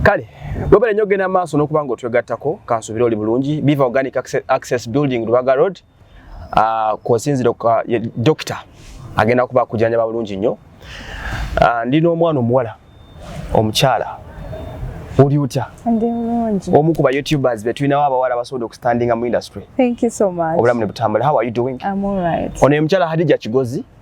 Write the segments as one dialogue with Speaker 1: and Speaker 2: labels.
Speaker 1: kale webale nyo genda maaso nokuba nga otwegattako kansubire oli bulungi biva organic access building lubaga road ah, kwosinzira dokita agenda kuba kujanjaba bulungi nnyo ah, ndi n'omwana omuwala omukyala oli otya
Speaker 2: omu ku ba youtubers
Speaker 1: betulinawo abawala basobola okustandinga mu industry obulamu
Speaker 2: ne butambula how are you
Speaker 1: doing ono ye
Speaker 2: mukyala hadija kigozi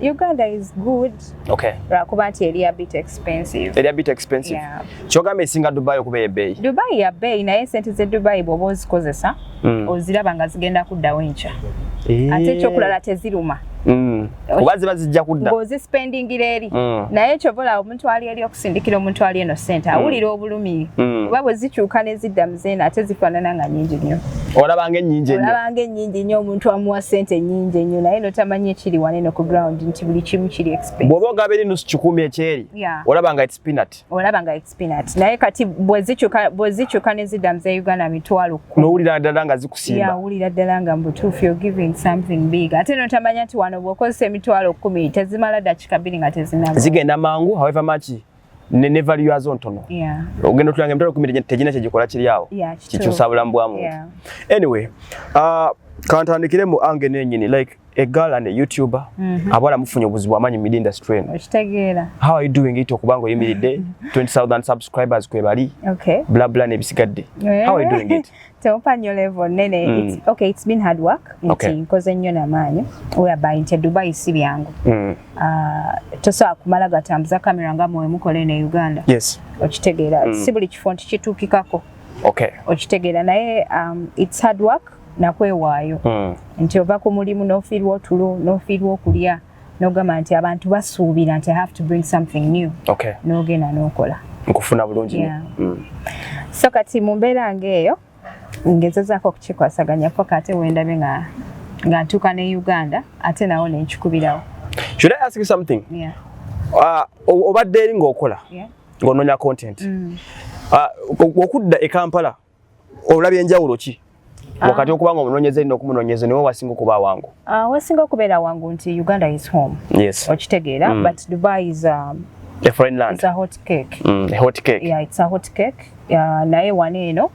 Speaker 1: Uganda is
Speaker 2: good. Okay. Lwakuba
Speaker 1: nti eri a
Speaker 2: bit expensive. Eri a bit expensive.
Speaker 1: Yeah. Kyogamba
Speaker 2: esinga Dubai
Speaker 1: okuba ebeeyi. Dubai ya beeyi naye
Speaker 2: sente ze Dubai bw'oba ozikozesa mm. oziraba nga zigenda kuddawo enkya. Eh. Ate ekyokulala teziruma. Mm. Oba
Speaker 1: ziba zijja kudda. Ng'ozispendingira eri.
Speaker 2: Mm. Naye kyova olaba omuntu ali eri okusindikira omuntu ali eno sente hmm. awulira obulumi hmm. oba bwe zikyuka ne zidda mu zeeno ate zifaanana nga nyingi nnyo olabanga ennyingi ennyo
Speaker 1: olabanga ennyingi nnyo omuntu
Speaker 2: amuwa sente ennyingi ennyo naye notamanyi ekiri wane no ku ground nti buli kimu kiri expense bw'oba ogaba eri nusu kikumi
Speaker 1: ekyeri olabanga it's peanut olabanga it's peanut
Speaker 2: naye kati bwe zikyuka ne zidda mu ze uganda mitwalo nowulira ddala nga zikusimba
Speaker 1: wulira ddala nga
Speaker 2: mubutuufu yo giving something big ate notamanya nti wano bwokozesa emitwalo kumi tezimala dakika bbiri nga tezinaba zigenda mangu however
Speaker 1: much ne value yazo ntono ogenda otulanga emitwalo kumi tegina kyegikola kiri awo kikyusa bulamu bwa muntu anyway uh, kantandikire mu ange nenyini like a girl and a youtuber mm -hmm. abala mufunye obuzibu amanyi mid industry eno okitegeera how are you
Speaker 2: doing it
Speaker 1: okubanga oyimiridde 20000 subscribers kwebali okay bla bla nebisigadde yeah. how are you doing it teopanyo level
Speaker 2: nene mm. it's, okay it's been hard work nti okay. nkoze nnyo namaanyi whereby nti dubai si byangu mm. uh, tosobola kumala gatambuza kamera nga mwe mukola eno e uganda yes okitegeera
Speaker 1: mm. si
Speaker 2: buli kifo nti kituukikako okay
Speaker 1: okitegeera naye
Speaker 2: um, it's hard work nakwewaayo hmm. nti ova ku mulimu nofiirwa otulo nofiirwa okulya nogamba nti abantu basuubira nti have to bring something new okay. nogenda
Speaker 1: nokola
Speaker 2: nkufuna bulungi
Speaker 1: yeah. mm.
Speaker 2: so kati mu mbeera ngaeyo ngezezaako okukikwasaganyako kate wendabe nga nga ntuuka ne uganda ate nawo nenkikubirawo should i ask you
Speaker 1: something yeah.
Speaker 2: uh,
Speaker 1: obadde eri ngaokola yeah. ngaonoonya content mm. uh, okudda e kampala olabye enjawulo ki ah. wakati okuba nga omunonyeza erina okumunonyeza niwe wasinga okuba wangu ah, wasinga okubeera
Speaker 2: wangu nti uganda is home yes. okitegeera
Speaker 1: mm. but
Speaker 2: dubai is um, a foreign land it's a
Speaker 1: hot cake
Speaker 2: mm, a hot cake yeah
Speaker 1: it's a hot cake
Speaker 2: yeah, naye wano eno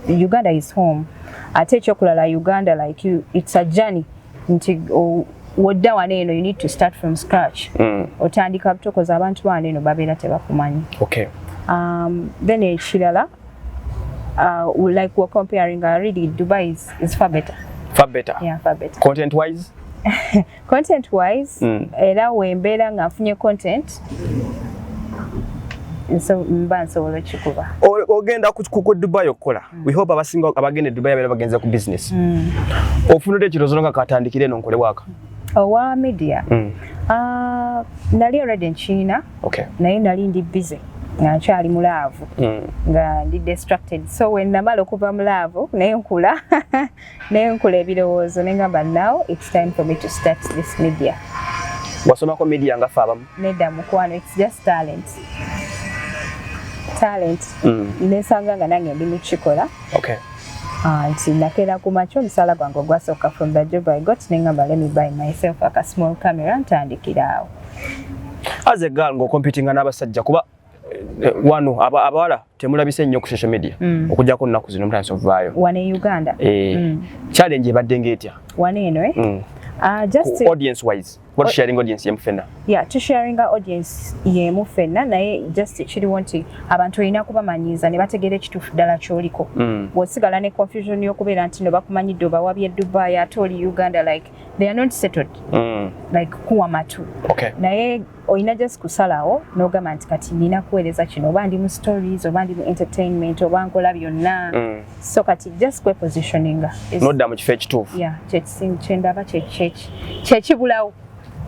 Speaker 2: uganda is home ate ekyokulala uganda like you, it's a journey nti oh, wodda wano eno you need to start from scratch mm. otandika butokoza abantu bano eno babeera tebakumanyi okay.
Speaker 1: um, then
Speaker 2: ekirala Uh, like we're comparing, uh, really, Dubai is, is far better. Far better? Yeah, far
Speaker 1: better. Content
Speaker 2: wise?
Speaker 1: content
Speaker 2: wise, mm. era wembeera nga nfunye content mba nsobola okikuba ogenda ku
Speaker 1: dubai okukola mm. we hope abasinga abagenda e dubai abeera bagenze ku business mm. ofunudde ekirozo nga katandikire eno nkole waaka owa media
Speaker 2: mm. uh, nali already nkiina okay. naye nali
Speaker 1: ndi busy
Speaker 2: nga nkyali mu laavu mm. nga ndi destructed so when namala okuva mu laavu naye nkula naye nkula ebirowoozo ne ngamba now its time for me to start this media wasomako
Speaker 1: media nga fe abamu nedda mukwano its
Speaker 2: just talent talent mm. nesanga nga nange ndi mukikola okay.
Speaker 1: Ah, nti
Speaker 2: nakeera ku makya omusaala gwange ogwasooka from the job i got nengamba let me buy myself aka small camera ntandikiraawo
Speaker 1: as a girl ngo competing n'abasajja kuba eh, wano abawala temulabise nnyo ku social media mm. okujjako nnaku zino mutandise okuvaayo wano e uganda
Speaker 2: eh, mm. challenge
Speaker 1: ebadde ngaetya wano eno
Speaker 2: eh? mm. Uh, just to, audience wise
Speaker 1: what sharing audience yemu fena yeah to sharing our
Speaker 2: audience yemu fena naye just chiri wanti abantu olina kubamanyiza ne bategera ekituufu ddala kyoliko mm. wosigala ne confusion y'okubeera nti no bakumanyidde obawabye dubai ate oli uganda like they are not settled mm. like kuwa matu okay. naye
Speaker 1: olina
Speaker 2: just kusalawo nogamba nti kati nina kuweereza kino oba ndi mu stories oba ndi mu entertainment oba nkola byonna mm. so kati just kwe positioning nodda mu
Speaker 1: kifo ekituufu
Speaker 2: yeah,
Speaker 1: kyendaba
Speaker 2: kyekibulawo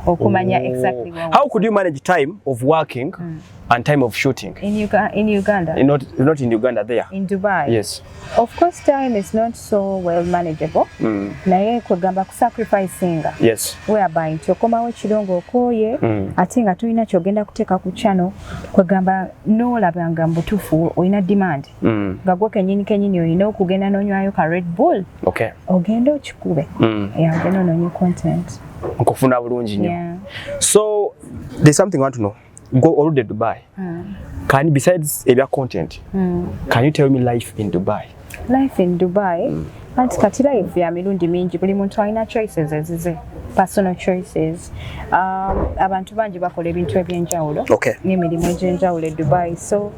Speaker 2: okumanya oh. exactly what how could you manage
Speaker 1: time of working mm. and time of shooting in, Uga in Uganda
Speaker 2: not, not in Uganda
Speaker 1: there in Dubai yes
Speaker 2: Of course
Speaker 1: time
Speaker 2: is not so well manageable. Mm. Naye kwegamba ku sacrificinga. Yes. Whereby
Speaker 1: nti okomawo
Speaker 2: ekiro ng'okooye mm. ate nga tulina kyogenda kuteeka ku channel kwegamba n'olaba nga mbutuufu olina demand mm. nga gwo kenyini kenyini olina okugenda n'onywayo ka Red Bull okay. ogenda
Speaker 1: okikube
Speaker 2: mm. yeah, ogenda onoonye content nkufuna bulungi
Speaker 1: nnyo yeah. so
Speaker 2: there's
Speaker 1: something I want to know go all the Dubai. Mm. Can besides area content, mm. can you tell me life in Dubai? Life in Dubai.
Speaker 2: Mm. Anti kati life ya mirundi mingi buli muntu alina choices ezize personal choices um, abantu bangi bakola ebintu ebyenjawulo okay. n'emirimu
Speaker 1: egyenjawulo
Speaker 2: e dubai so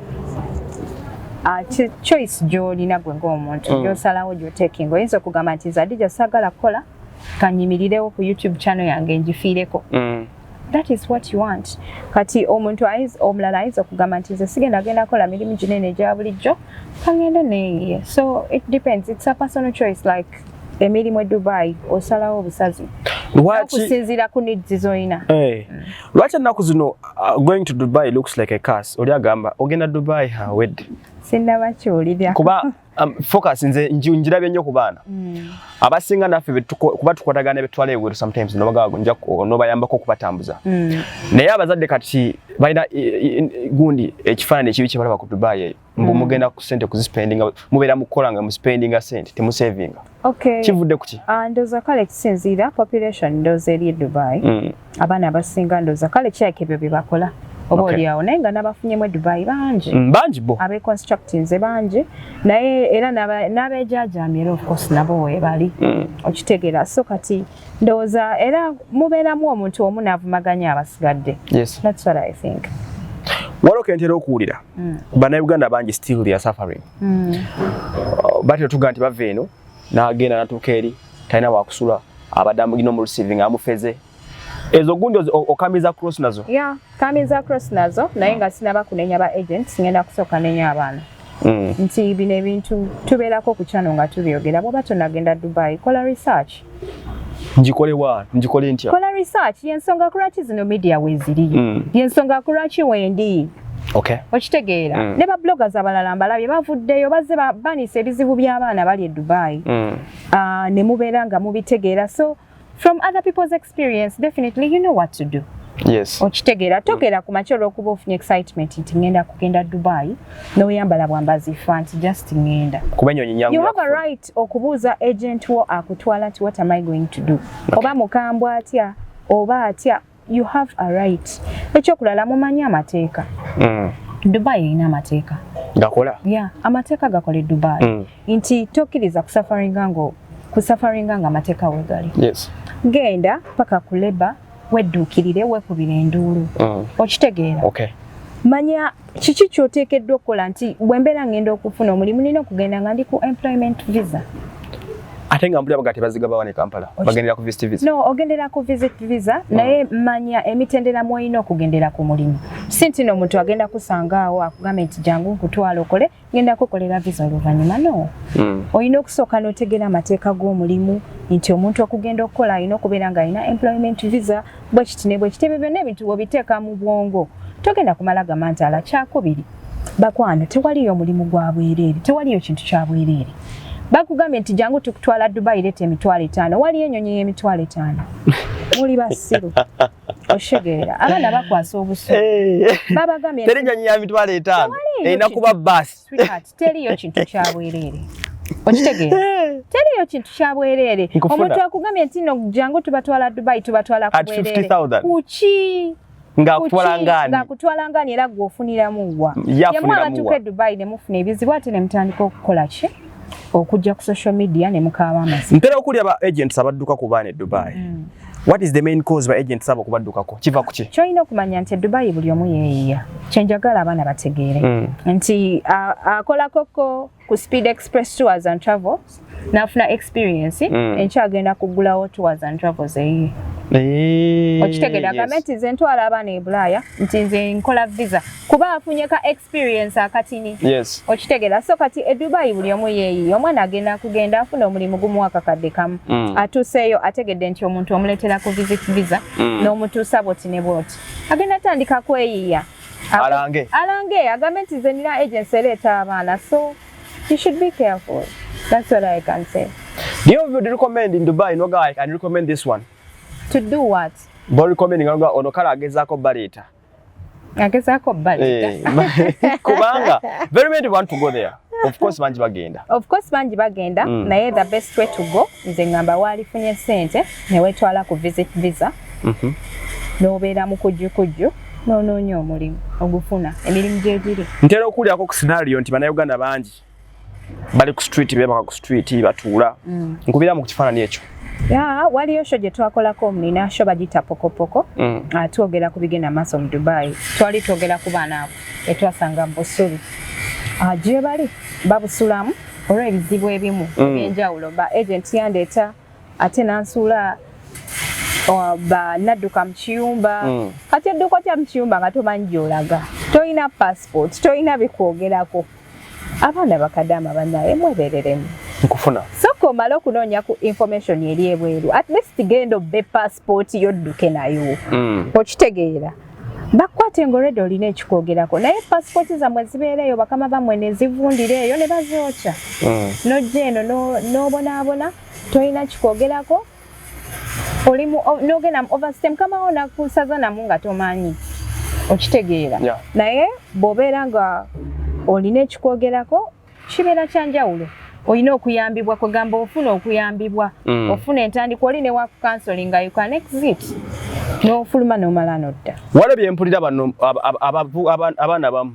Speaker 2: uh, choice gyolina gwe ng'omuntu mm. gyosalawo gyotekinga oyinza okugamba nti zadija sagala kukola kanyimirirewo ku youtube channel yange njifiireko mm. that is what you want kati omuntu omulala ayinza okugamba nti nze sigenda agenda kola mirimu ginene egya bulijjo kangende neye so it depends it's a personal choice like emirimu e dubai osalawo obusazi okusinziira ku needs zolina eh. mm. lwaki
Speaker 1: ennaku zino uh, going to dubai looks like a cas oli agamba ogenda dubai hawed sinnabakiwulira
Speaker 2: kuba Um,
Speaker 1: focus nze njirabye nnyo ku baana mm. abasinga naffe kuba tukwatagana betwala eweru sometimes nobayambako okubatambuza mm. naye abazadde kati balina gundi ekifaanani ekibi kyebalaba ku dubai eyo mbu mm. mugenda ku sente kuzisipendinga mubeera mukukola nga muspendinga sente temusavinga Okay. Kivudde
Speaker 2: kuki? Ah,
Speaker 1: ndoza kale kisinziira
Speaker 2: population ndoza eri Dubai. Mm. Abaana abasinga ndoza kale kyake ebyo bye bakola. Oba okay. olyawo naye nga n'abafunye mu Dubai bangi. Mm, bangi bo. Abe
Speaker 1: constructing ze bangi
Speaker 2: naye era n'abejaajamira of course nabo weebali. Mm. Okitegeera so kati ndowooza era mubeeramu omuntu omu n'avumaganya abasigadde. Yes. That's what I
Speaker 1: think.
Speaker 2: Waliwo
Speaker 1: kentera okuwulira. Mm. Bannayuganda bangi still they are suffering. mm. batyo tuga nti bava eno n'agenda natuuka eri talina wakusula abadde amugina omulusivi nga amufeze ezo gundi okamiza cross nazo ya kamiza
Speaker 2: cross nazo naye nga sinaba kunenya ba agents ngenda kusooka nenya abaana mm. nti bino ebintu tubeerako ku kyano nga tubyogera bwoba tonagenda dubai kola research njikole wa
Speaker 1: njikole ntya kola research yensonga
Speaker 2: kulwaki zino media weziri mm. yensonga kulwaki wendi okay.
Speaker 1: okitegeera mm. ne
Speaker 2: babloggers abalala mbalabye bavuddeyo bazze babanisa ebizibu by'abaana bali e dubai mm. uh, ne mubeera nga mubitegeera so from other people's experience definitely you know what to do yes. okitegeera
Speaker 1: togera
Speaker 2: ku makya olwokuba ofunye excitement nti ngenda kugenda dubai noyambala bwambazi fa nti just ngenda kuba enyonyi nyangu you have
Speaker 1: a right Just
Speaker 2: okubuuza agent wo akutwala nti what am I going to do? Okay. Oba mukambwa atya, oba atya, you have a right. Ekyokulala mumanyi amateeka. Mm. Dubai erina amateeka. Gakola? Yeah,
Speaker 1: amateeka
Speaker 2: gakola e Dubai. Mm. Nti tokkiriza kusafaringa ngo kusafaringa nga amateeka wegali. Yes. Genda paka ku labor wedduukirire wekubire enduulu mm. okitegeera okay.
Speaker 1: manya
Speaker 2: kiki kyoteekeddwa okukola nti bwembeera ngenda okufuna omulimu nina okugenda nga ndi ku employment visa ate
Speaker 1: nga mbulira bagati baziga bawane kampala bagendera ku visit visa no ogendera ku visit
Speaker 2: visa mm. naye manya emitendera mwoyina okugendera ku mulimu sinti no muntu agenda kusanga awo akugambe nti jangu nkutwala okole ngenda kukolera visa oluvannyuma no hmm. olina okusooka n'otegeera amateeka g'omulimu nti omuntu okugenda okukola alina okubeera ng'alina employment visa bwekiti ne bwekiti ebyo byonna ebintu bwobiteeka mu bwongo togenda kumala gamba nti ala kyakubiri bakwano tewaliyo omulimu gwa bwereere tewaliyo kintu kya bwereere bakugambye nti jangu tukutwala dubai leeta emitwalo etaano waliyo enyonyi y'emitwalo etaano muli basiru oshegeera abaana bakwasa obusu eh. babagambye teri nyanyi ya mitwalo
Speaker 1: etaano erina kuba baasi teriyo
Speaker 2: kintu kyabwereere okitegeera eh. teriyo kintu kyabwereere omuntu akugambye nti no jangu tubatwala dubai tubatwala kubwereere kuki ngakutwala ngani era gwe ofuniramu wa yamwe abatuuka e dubai ne mufuna ebizibu ate ne mutandika okukola ki okujja ku social media ne mukaaba amazima ntera okulya ba agents
Speaker 1: abadduka ku baana e dubai mm. What is the main cause by agent sabo kubaddukako? Kiva kuki? Choina okumanya nti
Speaker 2: Dubai buli omu yeeyiya. Kyenjagala abaana bategeere mm. nti akola koko ku Speed Express Tours and Travels n'afuna experience mm. enkya agenda kuggulawo Tours and Travels eyiye. Eh, okitegede agamba nti nze ntwala abaana e bulaaya nti nze nkola visa kuba afunye ka experience akatini yes. okitegera so kati edubai buli omu yeeyiyo omwana agenda kugenda afuna omulimu gumu akakadde kamu mm. atuuseeyo ategedde nti omuntu omuleetera ku visit visa mm. n'omutuusa bwoti ne bwoti agenda atandika kweyiiya alange alange agambe nti ze nina agency ereeta abaana so you should be careful that's what i can say do you would
Speaker 1: recommend in dubai no guy can recommend this one to do what
Speaker 2: bo recommending
Speaker 1: ono kale agezaako baleeta agezaako
Speaker 2: baliga eh, kubanga
Speaker 1: very many want to go there of course bangi bagenda of course bangi bagenda mm. naye the best way to go nze ngamba waalifunye sente newetwala ku visit visa mm -hmm. nobeera mu kujjukujju nonoonya omulimu ogufuna emirimu gyegiri ntera okuwulirako ku scenario nti banauganda bangi bali ku street bebaka ku street batuula mm. nkubira mu kifaanani ekyo Yeah, waliyo
Speaker 2: sho gye twakolako nina sho bagiyita pokopoko mm. uh, twogera ku bigenda maaso mu dubai twali twogera ku baana abo etwasanga busuli uh, ah, gye bali babusulamu olw'ebizibu ebimu mm. ebyenjawulo mm. ba agent yandeeta ate nansuula uh, ba nadduka mu kiyumba mm. kati edduka otya mu kiyumba nga tomanyi gyolaga tolina passport tolina bikwogerako mm. abaana bakadaama banaye mwebereremu nkufuna
Speaker 1: soka omale okunoonya
Speaker 2: ku information eri ebweru at least genda obbe passport yo dduke nayo mm. okitegeera bakwate nga olwedde olina ekikwogerako naye passport zamwe zibeereeyo bakama bamwe nezivundira eyo ne bazookya mm. nojja eno n'obonaabona tolina kikwogerako oli nogenda mu overstay mukama wo nakusaza namu nga tomanyi okitegeera naye bwobeera nga olina ekikwogerako kibeera kyanjawulo olina okuyambibwa kwegamba ofuna okuyambibwa mm. ofuna entandikwa oli newakukansoli nga ukan exit nofuluma nomala nodda walabye mpulira bano
Speaker 1: abaana bamu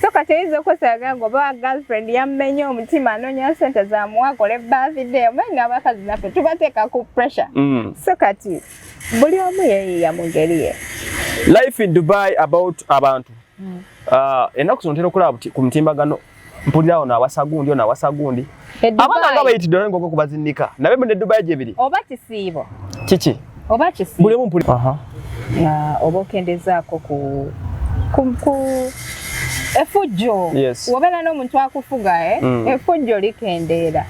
Speaker 2: so kati oyinza okwesaaga nga oba girlfriend yammenye omutima anoonya sente zamuwa akole birthday omanyi nga abakazi naffe tubateeka ku pressure mm. so kati buli omu yeyiya mu ngeri ye life in
Speaker 1: dubai about abantu mm. uh, enaku zino ntera okulaba ku mutimbagano mpulirawo nawasa gundi onaawasa gundi abana nga bayitidde olwo ngoko kubazinnika nabe mu ne dubai gye biri oba kisiibo
Speaker 2: kiki
Speaker 1: oba kisiibo bulemu
Speaker 2: mpuli aha
Speaker 1: na oba
Speaker 2: okendezaako ku ku ku efujjo yes. wobera n'omuntu akufuga eh? mm. efujjo likendeera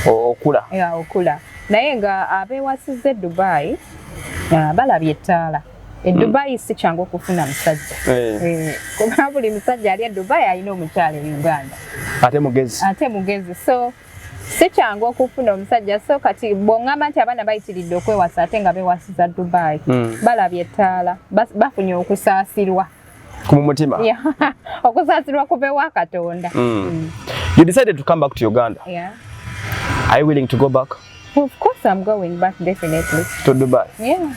Speaker 2: okula ya okula naye nga abewasiza e dubai balabye ettaala e hmm. dubai si kyangu okufuna musajja eh. Eh, kuba buli musajja ali e dubai alina omukyalo e uganda ate mugezi ate mugezi so si kyangu okufuna omusajja so kati bwongamba nti abaana bayitiridde okwewasa ate nga bewasiza dubai hmm. balabye ettaala bafunye okusaasirwa ku mutima
Speaker 1: yeah. okusaasirwa
Speaker 2: kubewa katonda mm. Mm. you
Speaker 1: decided to come back to uganda yeah. are you willing to go back of course i'm
Speaker 2: going back definitely to dubai
Speaker 1: yeah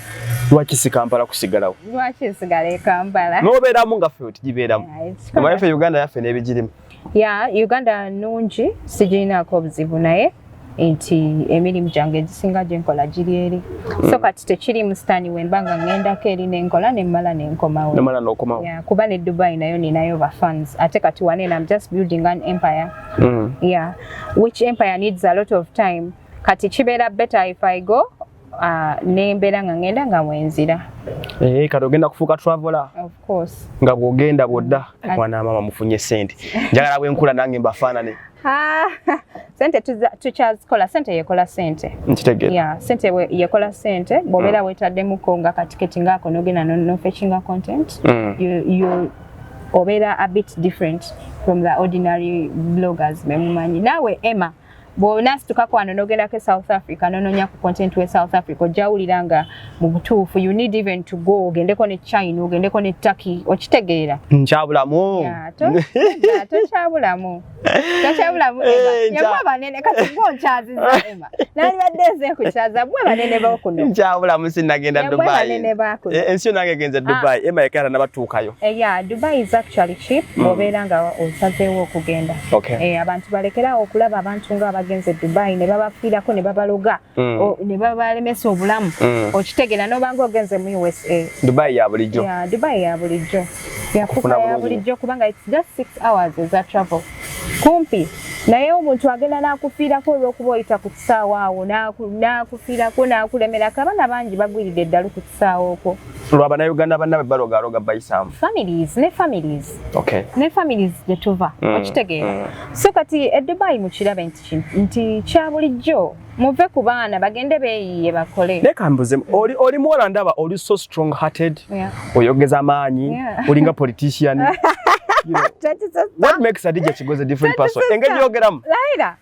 Speaker 1: lwaki si kampala kusigalawo lwaki sigala e
Speaker 2: kampala nobeeramu nga fe
Speaker 1: otigibeeramu omanyi fe uganda yaffe n'ebigirimu ya uganda
Speaker 2: nungi sigirinaako obuzibu naye nti emirimu gyange egisinga gyenkola giri eri mm. so kati tekiri musitaani wemba nga ŋŋendako eri nenkola nemmala nenkomawo kuba ne dubai nayo ninayo bafans ate kati wanene am just building an empire mm. yeah which empire needs a lot of time kati kibeera better if i go Ah, nembeera nga ngenda nga wenzira eh, kati ogenda
Speaker 1: kufuuka traveler
Speaker 2: nga bwogenda bwodda
Speaker 1: mm. mwana maama mufunye sente njagala bwenkula nange mbafaanane ah,
Speaker 2: sente tukyazikola sente yekola sente nkitegera sente
Speaker 1: yekola
Speaker 2: sente bwobeera mm. wetaddemuko nga katiketi ngaako nogenda nofekinga content mm. obeera a bit different from the ordinary bloggers bemumanyi naawe emma bw'onaasituka kwano n'ogendako e south africa n'onoonya ku content we south africa ojjawulira nga mu butuufu you need even to go ogendeko ne china ogendeko ne turkey okitegeera nkyabulamu
Speaker 1: tokyabulamu
Speaker 2: tokyabulamu eh, yamu abanene kati ngaokyaziza ema nalibadde eze kukyaza mwe banene bokuno nkyabulamu sinagenda
Speaker 1: dubai eh, ensi yo nange genze ah. dubai ema yekera nabatuukayo eya eh, dubai is
Speaker 2: actually cheap mm. obeera nga osazeewo okugenda Okay. Eh, abantu balekerawo okulaba abantu nga abagenze e Dubai ne babafiirako ne babaloga mm. ne babalemesa obulamu mm. okitegera nobanga ogenze mu USA. Dubai ya bulijjo.
Speaker 1: Yeah, Dubai ya bulijjo.
Speaker 2: Yafuka ya bulijjo kubanga it's just six hours as a travel. Kumpi naye omuntu agenda n'akufiirako olw'okuba oyita ku kisaawa awo n'akufiirako n'akulemerako abaana bangi bagwiridde eddalu ku kusaawo okwo lwa banauganda bannabe
Speaker 1: balogaloga bayisaamu families ne families okay.
Speaker 2: ne families gye tuva mm. okitegeera mm. so kati edubayi mukirabe nti nti kya bulijjo muve ku baana bagende beeyiye bakole naye kambuze oli,
Speaker 1: oli muwala ndaba oli so strong hearted yeah. oyogeza amaanyi yeah. olinga politician you know, what makes adija kigozi a different person engeri yogeramu laira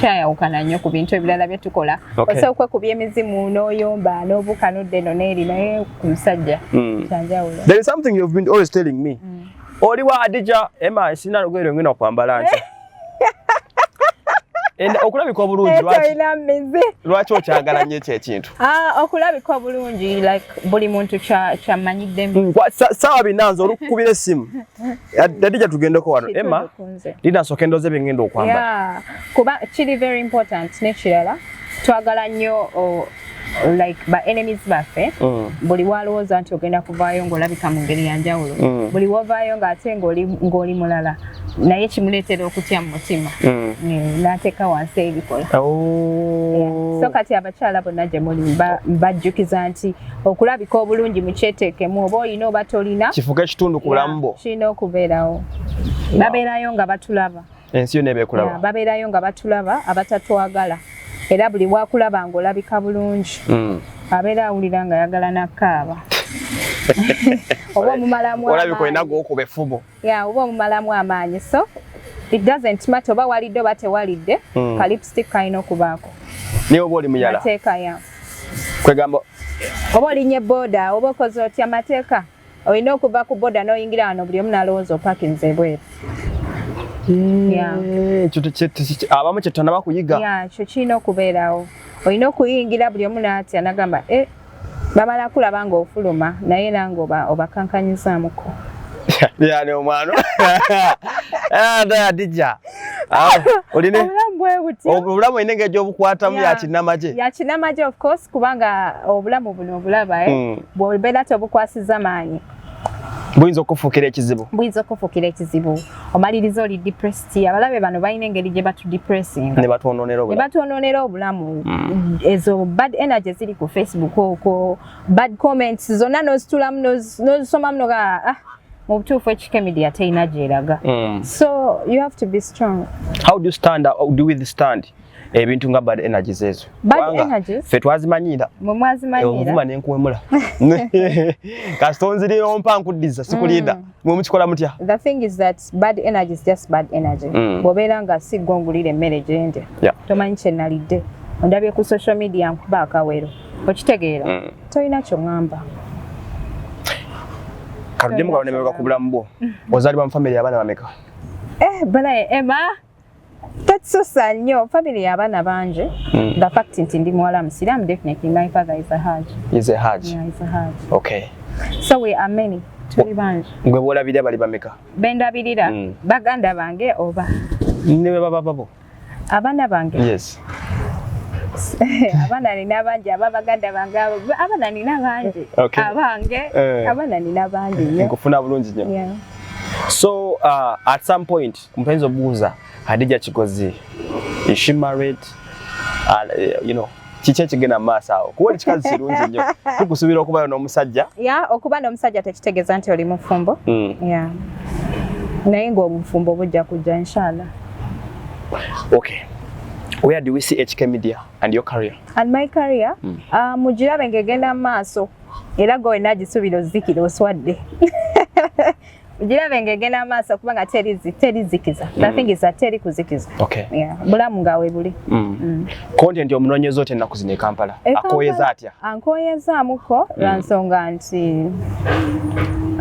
Speaker 2: kyayawukana nnyo ku bintu ebirala bye tukola ose okwekuba emizimu n'oyomba n'obuuka n'odda eno n'eri naye ku musajja hmm. kyanjawulo there is something you've been
Speaker 1: always telling me hmm. oli wa adija ema sina lugero ngina kwambala nti okulabika obulungi lwaki okyagala nyo ekyo ekintu ah, okulabika
Speaker 2: obulungi buli muntu kyamanyiddemu hmm, saawa
Speaker 1: binanza olukukubira essimu Adija tugendeko wano Emma linasooka endoozi bye ngenda okwambala kuba kiri
Speaker 2: very important n'ekirala twagala nnyo like ba enemies baffe mm. buli walowooza nti ogenda kuvaayo ng'olabika mu ngeri ya njawulo mm. buli wovaayo ng'ate ng'oli mulala naye kimuleetera okutya mu mutima mm. n'ateeka wansi ebikola oh. so kati abakyala bonna gye muli mbajjukiza nti okulabika obulungi mukyeteekemu oba olina oba tolina kifuka ekitundu kulamu
Speaker 1: bwo kirina okubeerawo
Speaker 2: babeerayo nga batulaba ensi yona ebekulaba
Speaker 1: babeerayo nga batulaba
Speaker 2: abatatwagala era buli wakulaba nga olabika bulungi hmm. abeera awulira nga ayagala nakaaba oba omumalamu olabika olina gwokuba
Speaker 1: effubo ya uba omumalamu
Speaker 2: amaanyi so it doesn't matter oba walidde oba tewalidde mm. ka lipstick kalina okubaako naye oba oli
Speaker 1: muyala mateeka ya
Speaker 2: kwegamba
Speaker 1: oba
Speaker 2: olinye boda oba okoze otya mateeka olina okuva ku boda n'oyingira wano buli omu nalowooza opakinze ebweru
Speaker 1: eh, abamu kyetutanaba kuyiga kyo kirina okubeerawo
Speaker 2: olina okuyingira buli omu natya nagamba eh, bamala kulaba nga ofuluma naye era nga obakankanyizamuko
Speaker 1: yani omwana adija obulamu olina engeri gyobukwatamu yakinamagye yakinamagye
Speaker 2: ofcourse kubanga obulamu buno obulaba eh? hmm. bwobeera tobukwasiza maanyi buyinza
Speaker 1: okufuukira ekizibu buyinza okufuukira
Speaker 2: ekizibu omaliriza oli depressed si abalabe bano balina engeri gye batudepressinga ne batwononera obulamu ne
Speaker 1: batwononera obulamu mm.
Speaker 2: ezo bad energy ziri ku facebook okwo bad comments zonna n'ozitulamu n'ozisomamu noga ah mu butuufu ekike media terina gyeraga mm. so you have to be strong how do you stand
Speaker 1: how do we stand ebintu nga bad energies ezo fe twazimanyira omuvuma nenkuwemula kasita onziriyo mpa nkuddiza sikulinda mm. mwe mukikola mutya
Speaker 2: bad energy is just bad energy mm. bwobeera nga si gongulira emmere gyendya yeah. tomanyi kyenalidde ondabye ku social media nkuba akawero okitegeera mm. tolina kyoŋamba
Speaker 1: katuddemu kaonemeeka ku bulamu bwo ozaalibwa mu famiry abaana bameka eh, balaye
Speaker 2: ema Tatsusa nnyo family ya bana bangi mm. the fact nti ndi muwala musiraamu definitely my father is a hajj is a hajj yeah, is
Speaker 1: a hajj okay so we are
Speaker 2: many tuli bangi gwe bwolabirira bali
Speaker 1: bameka bendabirira mm.
Speaker 2: baganda bange oba ne bwe baba
Speaker 1: babo abana
Speaker 2: bange yes
Speaker 1: abana
Speaker 2: nina bangi aba baganda bange abana nina bangi okay. abange uh, abana nina bangi nyo nkufuna bulungi nyo yeah. so
Speaker 1: uh, at some point Mpenzi obuuza Hadija Kigozi is she married and uh, you know kiki ekigenda maaso awo kuba oli kikazi kirungi nnyo tukusuubira okubayo n'omusajja ya okuba n'omusajja
Speaker 2: tekitegeeza nti oli mufumbo mm. ya naye ng'obufumbo bujja kujja inshallah
Speaker 1: okay where do we see HK Media and your career? And my career? Mm.
Speaker 2: Uh, mujirabe ngegenda maaso era gwe wenna agisuubira ozikira oswadde girabe ng'egenda maaso kuba nga terizikiza nathingiza mm. teri kuzikiza bulamu
Speaker 1: nga webuli
Speaker 2: mm. mm. konti
Speaker 1: nti omunoonyeza otya ennaku zino e kampala e akooyeza atya ankooyezaamuko lwa nsonga nti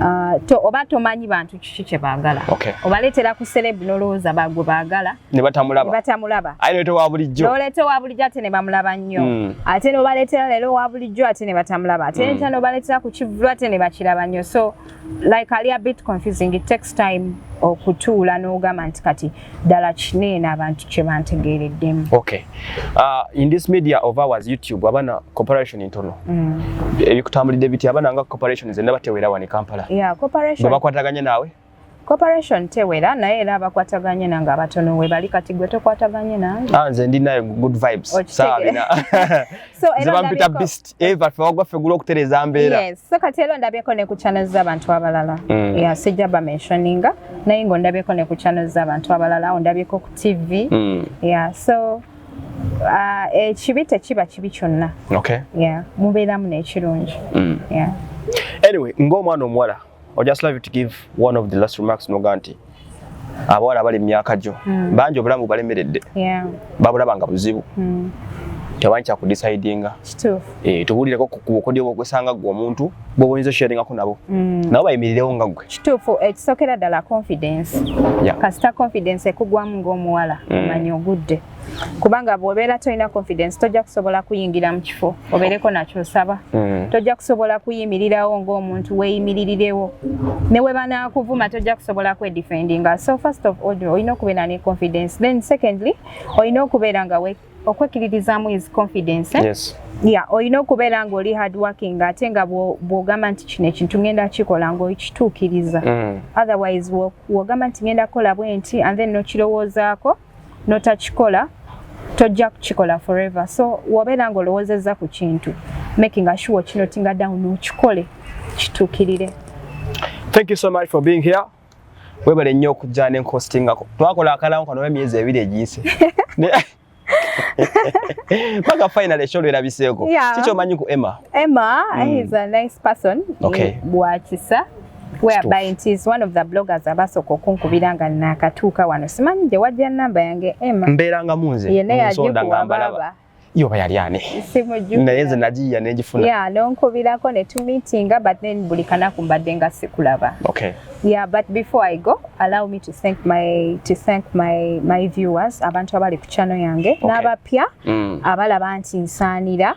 Speaker 1: ah, oba tomanyi bantu kiki kye baagala obaleetera ku serebu n'olowooza bagwe baagala ne batamulaba aye noleeta owa bulijjo noleeta owa bulijjo ate ne bamulaba nnyo ate n'obaleetera leero owa bulijjo ate ne batamulaba ate nta n'obaleetera ku kivulu ate ne bakiraba nnyo so like ali a bit confusing it takes time okutuula n'ogamba nti kati ddala kineena abantu kye bantegeereddemu okay uh, in this media of ours youtube abana corporation ntono mm. ebikutambulidde biti abana nga corporation zenna batewera wani kampala yeah, corporation bakwataganye naawe corporation tewera naye era abakwataganye nange abatono we bali kati gwe tokwataganye nange ah, nze ndi naye good vibes sawa bina so era eva ffe wagwa ffe gula okutereza mbeera yes so kati era ondabyeko ne ku channel z'abantu abalala mm. yeah, sijja ba mentioninga naye nga ondabyeko ne ku channel z'abantu abalala ondabyeko ku tv mm. yeah so uh, ekibi tekiba kibi kyonna okay. yeah, mubeeramu n'ekirungi mm. yeah. anyway ng'omwana omuwala I just love you to give one of the last remarks noga nti abawala abali mu myaka gyo mm. bangi obulamu balemeredde yeah. babulaba nga buzibu mm. tebanyi kyakudisidinga eh, tubuulireko kubukodyo bwokwesanga gwe omuntu bwoboyinza osharingako nabo mm. nabo bayimirirewo nga gwe kituufu ekisokera eh, ddala confidence yeah. kasita confidence ekugwamu ngaomuwala mm. omanya ogudde kubanga bwobeera tolina confidence tojja kusobola kuyingira mu kifo obeereko nakyo osaba mm. tojja kusobola kuyimirirawo ng'omuntu weeyimiririrewo ne we banaakuvuma tojja kusobola kwedefendinga so first of all olina okubeera ne confidence then secondly olina okubeera nga okwekkiririzaamu is confidence eh? yes. ya olina okubeera ng'oli hard working ate nga bw'ogamba nti kino ekintu ngenda kikola ng'okituukiriza mm. otherwise w'ogamba nti ngenda kukola bwenti and then nokirowoozaako no notakikola tojja kukikola forever so wobeera nga olowozezza ku kintu making asure kinotinga down okikole kituukirire thank you so much for being here webale nnyo okujja nenkostingako twakola akalamu kano emyezi ebiri egiyise paka final esho lwera biseko yeah. chicho manyi ku Emma Emma mm. is a nice person okay. bwakisa whereby it is one of the bloggers abasooka okunkubira nga nakatuuka wano simanyi gye wajja namba yange ema mbeeranga munze nsonda nga mbalaba yo bayali ani naye nze nagiyiya negifuna yeah, nonkubirako ne tumitinga but then buli kanaku mbadde nga sikulaba okay. yeah, but before i go allow me to thank my, to thank my, my viewers abantu abali ku channel yange okay. n'abapya mm. abalaba nti nsaanira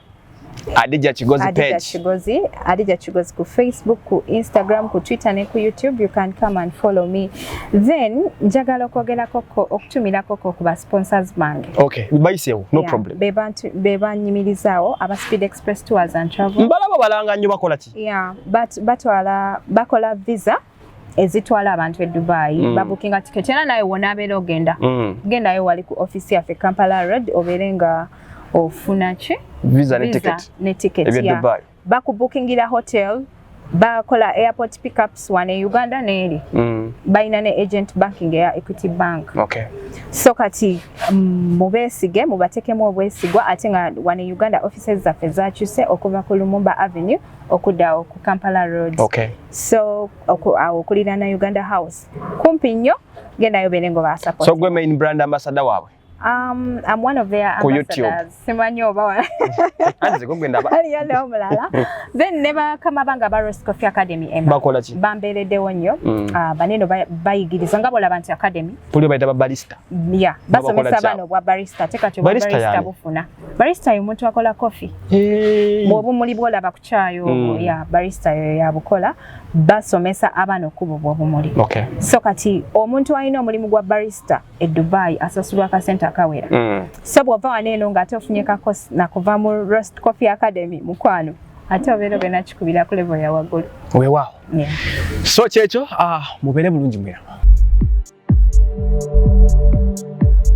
Speaker 1: Adija Kigozi Adija page. Kigozi, Adija Kigozi ku Facebook, ku Instagram, ku Twitter ne ku YouTube. You can come and follow me. Then njagala okwogera koko okutumira koko ku ba sponsors bange. Okay, bayisewo, no yeah. problem. Be bantu be banyimirizawo aba Speed Express Tours and Travel. Mbalaba balanga nnyo bakola ki? Yeah, but batwala bakola visa. ezitwala abantu e Dubai mm. babukinga ticket era naye wona abeera ogenda mm. gendayo wali ku office yaffe Kampala Road obeere nga ofuna ki visa ne ticket ne ticket ebya yeah. Dubai bakubukingira hotel bakola airport pickups wane e Uganda neeri mm. balina ne agent banking eya Equity Bank okay. so kati mm, mubeesige mubatekemu obwesigwa ate nga wane e Uganda offices zaffe zakyuse okuva ku Lumumba Avenue okudawo ku Kampala Road. Okay. So oku, awo okulira na Uganda House. Kumpi nnyo genda yo bere ngo ba support. So gwe main brand ambassador wawe. Um, I'm one of their ambassadors. Simanyi oba wa. Anze gwe ndaba. Ali yale omulala. Then never kama banga ba Rose Coffee Academy ema. Bakola ki? Bambere de wonyo. Mm. Uh, baneno bayigiriza nga bola bantu academy. Puli bayita ba barista. Yeah. Basomesa bano bwa barista. Teka tu barista, barista bufuna. barista yo omuntu akola kofi hey. bwobumuli bwolaba ku kyayi obo mm. ya barista yo yabukola basomesa abaana okukuba obwobumuli okay. so kati omuntu alina omulimu gwa barista e dubai asasulwa akasente akawera mm. so bwova waneeno ngaate ofunye kakosi nakuva mu rost coffee academy mukwano ate obeera ogenda kikubira ku levo ya waggulu weewaawo yeah. so kyekyo uh, ah, mubeere bulungi mwera